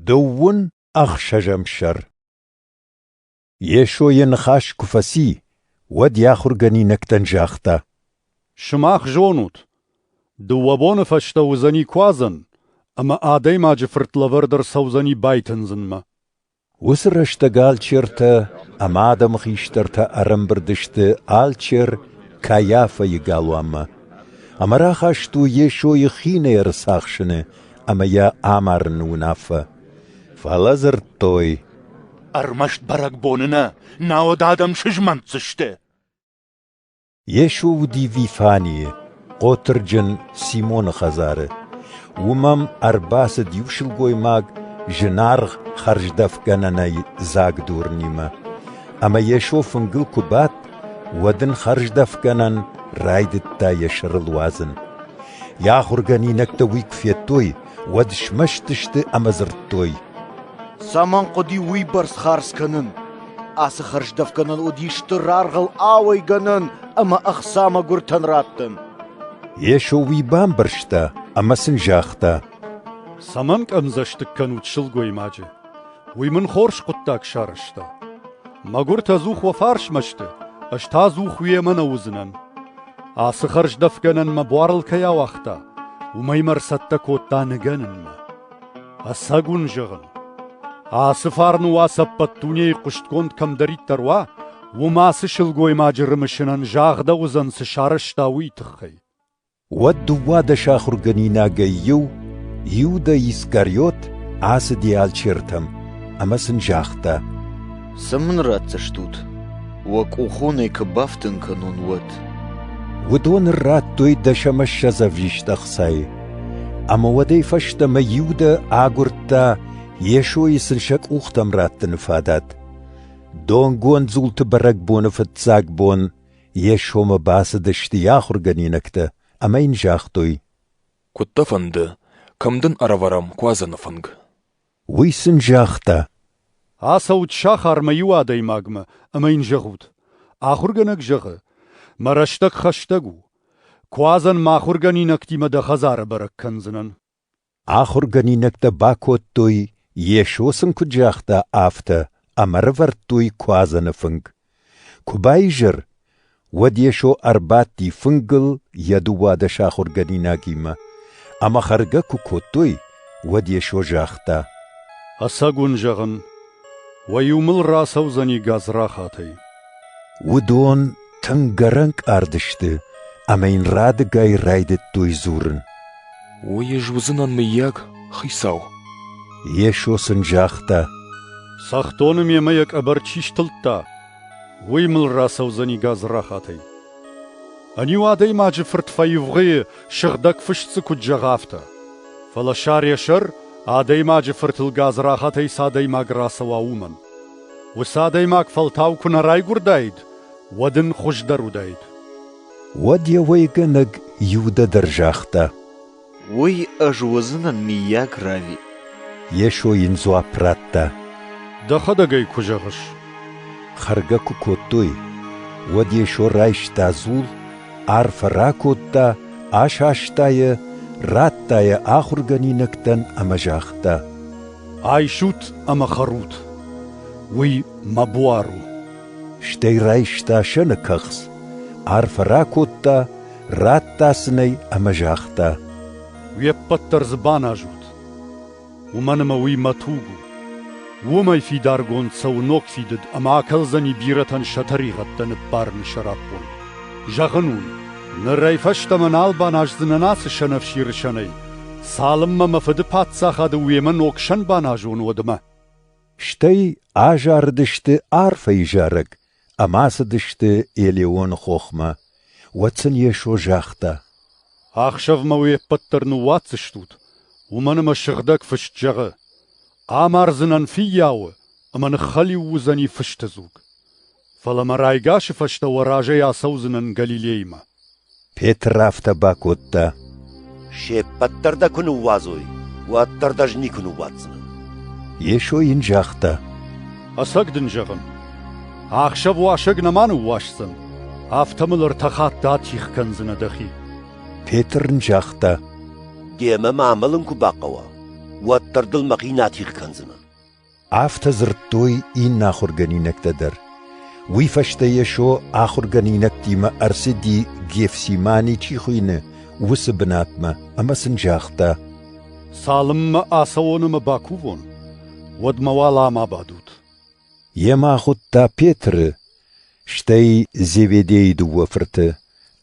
Дыууын ӕхсӕзӕм сӕр Йесо йӕ ныхас куы фӕци, уӕд йӕ ахуыргӕнинӕгтӕн загъта: «Сымах зонут, дыууӕ боны фӕстӕ уыдзӕни куадзӕн, ӕмӕ Адӕймаджы Фырт лӕвӕрд ӕрцӕудзӕни байтындзынмӕ. Уыцы рӕстӕг алчертӕ ӕмӕ адӕмы хистӕртӕ ӕрӕмбырд сты алчер Кайафӕйы галуанмӕ ӕмӕ рахаст у Йесойы хинӕй ӕрцахсыны ӕмӕ йӕ амарыны уынаффӕ. Фӕлӕ дзырдтой: «Ӕрмӕст бӕрӕгбоны нӕ, науӕд адӕм сызмӕнтдзысты!» Йесо уыди Вифанийы, Хъотырджын Симоны хӕдзары. Уым ӕм ӕрбацыд иу сылгоймаг зынаргъ хӕрздӕфгӕнӕнӕй дзаг дурнимӕ. Ӕмӕ Йесо фынгыл куы бадт, уӕд ын хӕрздӕфгӕнӕн райдыдта йӕ сӕрыл уадзын. Йӕ ахуыргӕнинӕгтӕ уый куы федтой, уӕд смӕсты сты ӕмӕ дзырдтой: «Цӕмӕн хъуыди уыйбӕрц хардз кӕнын? Ацы хӕрздӕфгӕнӕн уыди стыр аргъыл ауӕй гӕнӕн ӕмӕ ӕхца мӕгуыртӕн раттын». Йесо уый бамбӕрста ӕмӕ сын загъта: «Цӕмӕн къӕмдзӕстыг кӕнут сылгоймаджы? Уый мын хорз хъуыддаг сарӕзта. Мӕгуыртӕ ӕдзух уӕ фарсмӕ сты, ӕз та ӕдзух уемӕ нӕ уыдзынӕн. Ацы хӕрздӕфгӕнӕн мӕ буарыл кӕй ауагъта, уымӕй мӕ ӕрцӕттӕ кодта ныгӕнынмӕ. Ӕцӕг уын зӕгъын, ацы фарны уац ӕппӕт дунейы хъуыстгонд кӕмдӕриддӕр уа, уым ацы сылгоймаджы рымысынӕн загъдӕуыдзӕн, цы сарӕзта, уый тыххӕй. Уӕд дыууадӕс ахуыргӕнинагӕй иу, Иуда Искариот, ацыди алчертӕм ӕмӕ сын загъта: «Цы мын ратдзыстут, уӕ къухонӕй куы бафтын кӕнон, уӕд?» Уыдон радтой дӕсӕмӕссӕдз ӕвзист ӕхцайы. Ӕмӕ уӕдӕй фӕстӕмӕ Иудӕ агуырдта Йесойы сын сӕ къухтӕм раттыны фадат. Донгонд дзулты бӕрӕгбоны фыццаг бон Йе сомы бацыдысты йӕ ахуыргӕнинӕгтӕ ӕмӕ йын загътой: Куыд дӕ фӕнды, кӕм дын ӕрӕвӕрӕм куадзӕны фынг? Уый сын загъта: Ацӕут сахармӕ иу адӕймагмӕ ӕмӕ йын зӕгъут: Ахуыргӕнӕг зӕгъы, мӕ рӕстӕг хӕстӕг у. Куадзӕн мӕ ахуыргӕнинӕгтимӕ дӕ хӕдзары бӕрӕг кӕндзынӕн. Ахуыргӕнинӕгтӕ бакодтой, Йесо сын куыд загъта, афтӕ, ӕмӕ рывӕрдтой куадзӕны фынг. Куы баизӕр, уӕд Йесо ӕрбадти фынгыл йӕ дыууадӕс ахуыргӕнинагимӕ, ӕмӕ хӕргӕ куы кодтой, уӕд Йесо загъта: «Ӕцӕг уын зӕгъын, Уӕ-иу мыл рацӕудзӕни гадзрахатӕй. Уыдон тынг ӕрӕнкъард сты ӕмӕ йын радыгай райдыдтой дзурын. Уый ӕз уыдзынӕн, мыййаг, хицау? Йесо сын загъта: Цӕхдоны мемӕ йӕ къӕбӕр чи стылдта, уый мыл рацӕудзӕни гадзрахатӕй. Ӕниу адӕймаджы фырт фӕивгъуыйы сыгъдӕг фыст дзы куыд зӕгъы, афтӕ. Фӕлӕ сӕр йӕ сӕр адӕймаджы фыртыл гадзрахатӕй цы адӕймаг рацӕуа, уымӕн. Уыцы адӕймаг фӕлтау куы нӕ райгуырдаид, уӕд ын хуыздӕр уыдаид. Уӕд йӕ уӕйгӕнӕг Иудӕ дӕр загъта: Уый ӕз уыдзынӕн миййаг рави. Йесо йын дзуапп радта. Дӕхӕдӕг ӕй куы зӕгъыс. Хӕргӕ куы кодтой, уӕд Йесо райста дзул, арфӕ ракодта, асаста йӕ, радта йӕ ахуыргӕнинӕгтӕн ӕмӕ загъта: «Айсут ӕмӕ хӕрут. Уый мӕ буар у». Стӕй райста сӕны кӕхц, арфӕ ракодта, радта сын ӕй ӕмӕ загъта: «Уе ппӕт дӕр дзы баназут, уымӕн ӕмӕ уый мӕ туг у. Уымӕй фидаргонд цӕуы ног фидыд ӕмӕ акӕлдзӕни бирӕтӕн сӕ тӕригъӕдтӕ ныббарын сӕраппонд. Зӕгъын уын, нырӕй фӕстӕмӕ нал баназдзынӕн ацы сӕнӕфсиры сӕнӕй, цалынмӕ мӕ фыды паддзахады уемӕ ног сӕн баназон, уӕдмӕ». Стӕй азарыдысты арфӕйы зарӕг, Ӕмӕ ацыдысты Елеоны хохмӕ. Уӕд сын Йесо загъта: «Ӕхсӕвмӕ уе ппӕт дӕр ныууадздзыстут, уымӕн ӕмӕ Сыгъдӕг Фыст зӕгъы: «Амардзынӕн фыййауы, ӕмӕ ныххӕлиу уыдзӕни фысты дзуг. Фӕлӕ мӕ райгасы фӕстӕ уӕ разӕй ацӕудзынӕн Галилеймӕ». Петр афтӕ бакодта. Се ппӕт дӕр дӕ куы ныууадзой, уӕддӕр дӕ ӕз никуы ныууадздзынӕн. Йесо йын загъта. Ӕцӕг дын зӕгъын, ӕхсӕв уасӕг нӕма ныууасдзӕн, афтӕ мыл ӕртӕ хатты атигъ кӕндзынӕ дӕхи. Петр ын загъта. Демӕ ма амӕлын куы бахъӕуа, уӕддӕр дыл мӕхи натигъ кӕндзынӕн. Афтӕ дзырдтой иннӕ ахуыргӕнинӕгтӕ дӕр. Уый фӕстӕ Йесо ахуыргӕнинӕгтимӕ ӕрцыди Гефсимани чи хуыйны, уыцы бынатмӕ ӕмӕ сын загъта: «Цалынмӕ ацӕуон ӕмӕ бакувон, уӕдмӕ уӕлӕ ма бадут». Йемӕ ахуыдта Петры, Стӕй Зеведейы дыууӕ фырты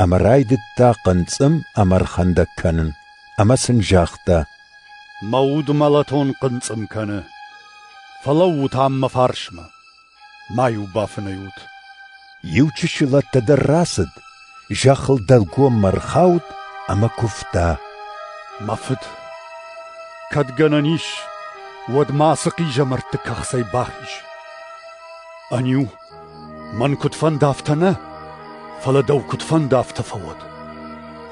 ӕмӕ райдыдта хъынцъым ӕмӕ ӕрхӕндӕг кӕнын, ӕмӕ сын загъта: «Мӕ уд мӕлӕтон хъынцъым кӕны. Фӕлӕуут ам мӕ фарсмӕ. Ма-иу бафынӕйут». Иу чысыл ӕддӕдӕр рацыд Зӕххыл дӕлгоммӕ ӕрхауд ӕмӕ куывта. Мӕ фыд, кӕд гӕнӕн ис, уӕд ма ацы хъизӕмӕртты кӕхцӕй бахиз. Ӕниу, мӕн куыд фӕндӕфтӕ нӕ, фӕлӕ дӕу куыд фӕндӕфтӕ фӕуӕд.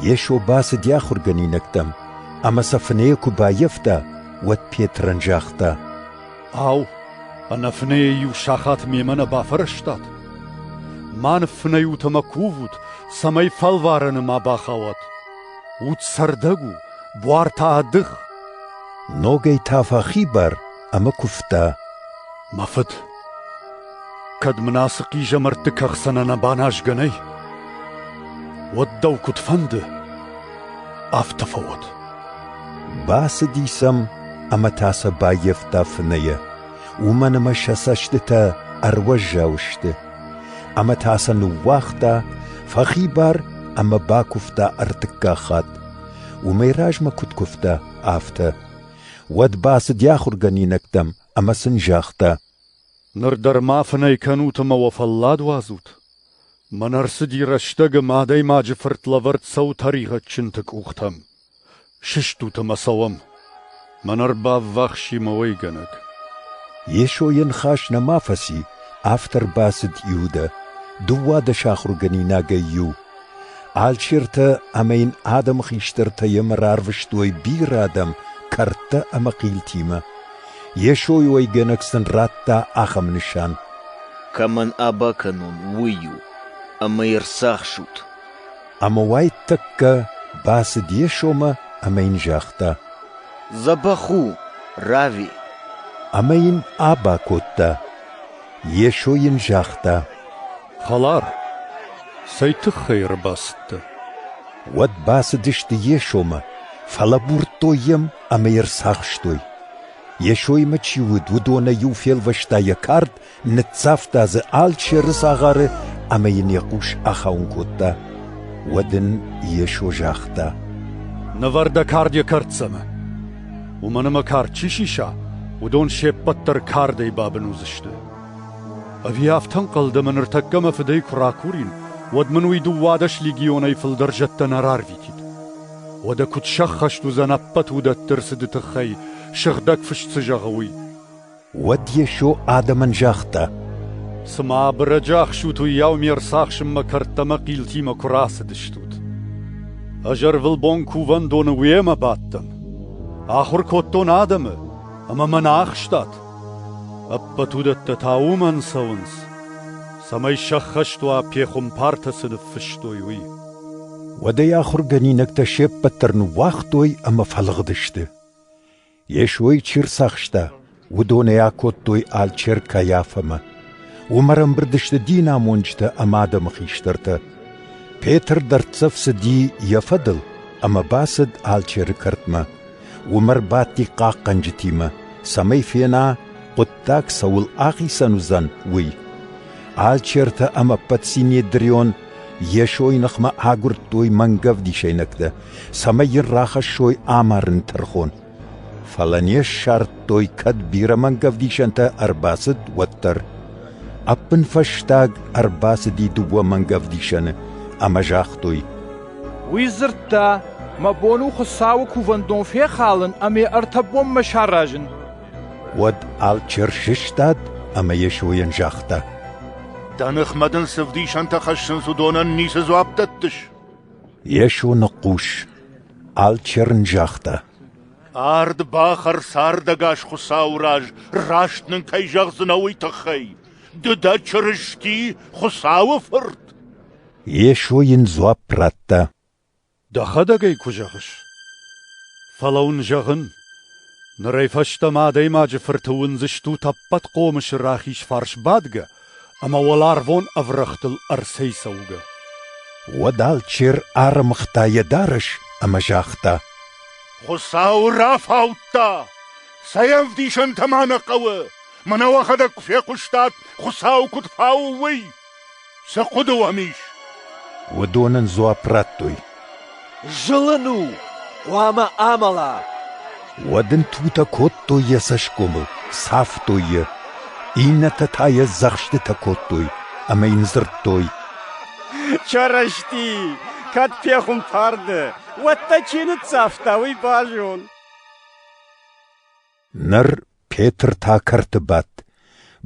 Йесо бацыди ахуыргӕнинӕгтӕм, ӕмӕ сӕ фынӕйӕ куы баййӕфта, уӕд Петрӕн загъта: Ау, ӕнӕфынӕйӕ иу сахат мемӕ нӕ бафӕрӕзтат? Ма ныффынӕйут ӕмӕ кувут, цӕмӕй фӕлварӕны ма бахауат. Уд цӕрдӕг у, буар та ӕдых. Ногӕй та фӕхибар ӕмӕ куывта. Мӕ фыд, Кӕд мын ацы хъизӕмӕртты кӕхцӕнӕн баназгӕ нӕй, уӕд дӕу куыд фӕнды, афтӕ фӕуӕд. Бацыди сӕм ӕмӕ та сӕ баййӕфта фынӕйӕ, уымӕн ӕмӕ сӕ цӕстытӕ ӕруӕззау сты, ӕмӕ та сӕ ныууагъта, фӕхибар ӕмӕ бакуывта ӕртыккаг хатт. Уымӕй размӕ куыд куывта, афтӕ. Уӕд бацыди ахуыргӕнинӕгтӕм ӕмӕ сын загъта: Ныр дӕр ма фынӕй кӕнут ӕмӕ уӕ фӕллад уадзут? Мӕн ӕрцыди рӕстӕгы мӕ адӕймаджы фырт лӕвӕрд цӕуы тӕригъӕдджынты къухтӕм. Сыстут ӕмӕ цӕуӕм. Мӕн ӕрбаввахси мӕ уӕйгӕнӕг. Йесо йӕ ныхас нӕма фӕци, автор бацыд Иудӕ, дыууадӕс ахуыргӕнинагӕй иу Алчертӕ ӕмӕ йын адӕмы хистӕртӕ йемӕ рарвыстой бирӕ адӕм кӕрдтӕ ӕмӕ хъилтимӕ. Йесойы уӕйгӕнӕг сын радта ахӕм нысан: «Кӕмӕн аба кӕнон, уый у, ӕмӕ ӕрцахсут». Ӕмӕ уайтӕккӕ бацыд Йесомӕ ӕмӕ йын загъта: «Дзӕбӕх у, рави!» Ӕмӕ йын аба кодта. Йесо йын загъта: Хӕлар, цӕй тыххӕй ӕрбацыдтӕ? Уӕд бацыдысты Йесомӕ, фӕлӕбурдтой йӕм ӕмӕ йӕ рцахстой. Йесоимӕ чи уыд, уыдонӕй иу фелвӕста йӕ кард, ныццавта дзы алчи ӕрыцагъары ӕмӕ йын йӕ хъус ахауын кодта. Уӕд ын Йесо загъта: «Нывӕр дӕ кард йӕ кӕрддзӕмӕ. Уымӕн ӕмӕ кард чи сиса, уыдон се ппӕт дӕр кардӕй бабын уыдзысты. Ӕви афтӕ ӕнхъӕл дӕ, мӕ ныртӕккӕ мӕ фыдӕй куы ракурин, уӕд мын уый дыууадӕс легионӕй фылдӕр зӕдтӕ нӕ рарвитид? Уӕдӕ куыд сӕххӕст уыдзӕн ӕппӕт уыдӕтты рцыды тыххӕй, сыгъдӕг фыст цы зӕгъы, уый? Уӕд Йесо адӕмӕн загъта, Цымӕ бырӕджӕхсут, уыйау ме рцахсынмӕ кӕрдтӕмӕ хъилтимӕ куы рацыдыстут? Ӕз ӕрвылбон кувӕндоны уемӕ бадтӕн. Ахуыр кодтон адӕмы, ӕмӕ мӕ нӕ ахстат. Ӕппӕт уыдӕттӕ та уымӕн цӕуынц, цӕмӕй сӕххӕст уа пехуымпартӕ цы ныффыстой, уый. Уӕдӕй ахуыргӕнинӕгтӕ се ппӕт дӕр ныууагътой ӕмӕ фӕлыгъдысты. Йесойы чи рцахста, уыдонӕй акодтой алчер Кайафӕмӕ. Уым ӕрӕмбырд сты динамонджытӕ ӕмӕ адӕмы хистӕртӕ. Петр дӕрддзӕф цыди йӕ фӕдыл ӕмӕ бацыд алчеры кӕртмӕ. Уым ӕрбадти хъахъхъӕнджытимӕ, цӕмӕй фена, хъуыддаг цӕуыл ахицӕн уыдзӕн, уый. Алчертӕ ӕмӕ ӕппӕт Синедрион Йесойы ныхмӕ агуырдтой мӕнгӕвдисӕйнӕгтӕ, цӕмӕй йын рахӕссой амарын тӕрхон. Фӕлӕ не ссардтой, кӕд бирӕ мӕнгӕвдисӕнтӕ ӕрбацыд, уӕддӕр. Ӕппынфӕстаг ӕрбацыди дыууӕ мӕнгӕвдисӕны ӕмӕ загътой: Уый дзырдта, мӕ бон у Хуыцауы кувӕндон фехалын ӕмӕ ӕртӕ бонмӕ саразын. Уӕд алчер сыстад ӕмӕ Йесойӕн загъта: Дӕ ныхмӕ дын цы вдисӕнтӕ хӕссынц, уыдонӕн ницы дзуапп дӕттыс? Йесо ныхъхъус. Алчер ын загъта: Ард бахӕр цардӕгас Хуыцауы раз, раст нын кӕй зӕгъдзынӕ, уый тыххӕй. Ды дӕ Чырысти, Хуыцауы Фырт. Йесо йын дзуапп радта. Дӕхӕдӕг ӕй куы зӕгъыс. Фӕлӕ уын зӕгъын, нырӕй фӕстӕмӕ Адӕймаджы Фырты уындзыстут ӕппӕт хъомысы рахиз фарс бадгӕ ӕмӕ уӕларвон ӕврӕгътыл ӕрцӕйцӕугӕ. Уӕд алчер ӕрымыгъта йӕ дарӕс ӕмӕ загъта. Хуыцау рафаудта! Сӕ ӕвдисӕнтӕ ма нӕ хъӕуы! Мӕнӕ уӕхӕдӕг куы фехъуыстат, Хуыцау куыд фауы, уый! Цы хъуыды уӕм ис? Уыдон ын дзуапп радтой. Зылын у, хъуамӕ амӕла. Уӕд ын тутӕ кодтой йӕ цӕсгомыл, цавтой йӕ. Иннӕтӕ та йӕ дзӕхстытӕ кодтой ӕмӕ йын дзырдтой. Чарашти, кӕд пехуымпар дӕ, уӕд дӕ чи ныццавта, уый базон. Ныр Петр та кӕрты бадт,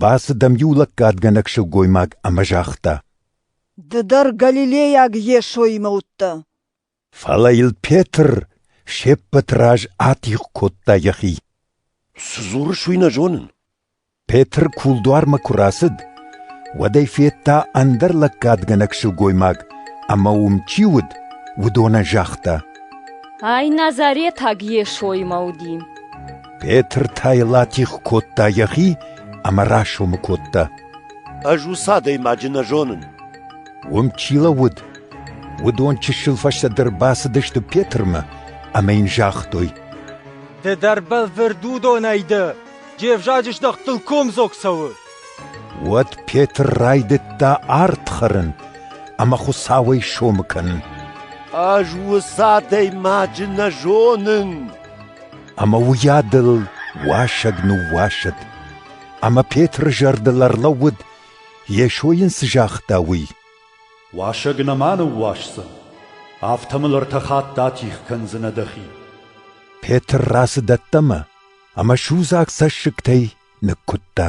бацыд ӕм иу лӕггадгӕнӕг сылгоймаг ӕмӕ загъта: Ды дӕр галилейаг Йесоимӕ уыдтӕ. Фӕлӕ йыл Петр се ппӕты раз атигъ кодта йӕхи. — Цы дзурыс, уый нӕ зонын. Петр кулдуармӕ куы рацыд, уӕд ӕй федта ӕндӕр лӕггадгӕнӕг сылгоймаг, ӕмӕ уым чи уыд, уыдонӕн загъта. Ай назаретаг Йесоимӕ уыди. Петр та йыл атигъ кодта йӕхи ӕмӕ расомы кодта. Ӕз уыцы адӕймаджы нӕ зонын. Уым чи лӕууыд, уыдон чысыл фӕстӕдӕр бацыдысты Петрмӕ ӕмӕ йын загътой. Ды дӕр бӕлвырд уыдонӕй дӕ. Де взаджы здӕхт дыл комдзог цӕуы! Уӕд Петр райдыдта ард хӕрын ӕмӕ Хуыцауӕй сомы кӕнын. Ӕз уыцы адӕймаджы нӕ зонын. Ӕмӕ уыйадыл уасӕг ныууасыд. Ӕмӕ Петры зӕрдыл ӕрлӕууыд, Йесо йын цы загъта, уый. Уасӕг нӕма ныууасдзӕн, афтӕ мыл ӕртӕ хатты атигъ кӕндзынӕ дӕхи. Петр рацыд ӕддӕмӕ. ӕмӕ судзаг цӕссыгтӕй ныккуыдта.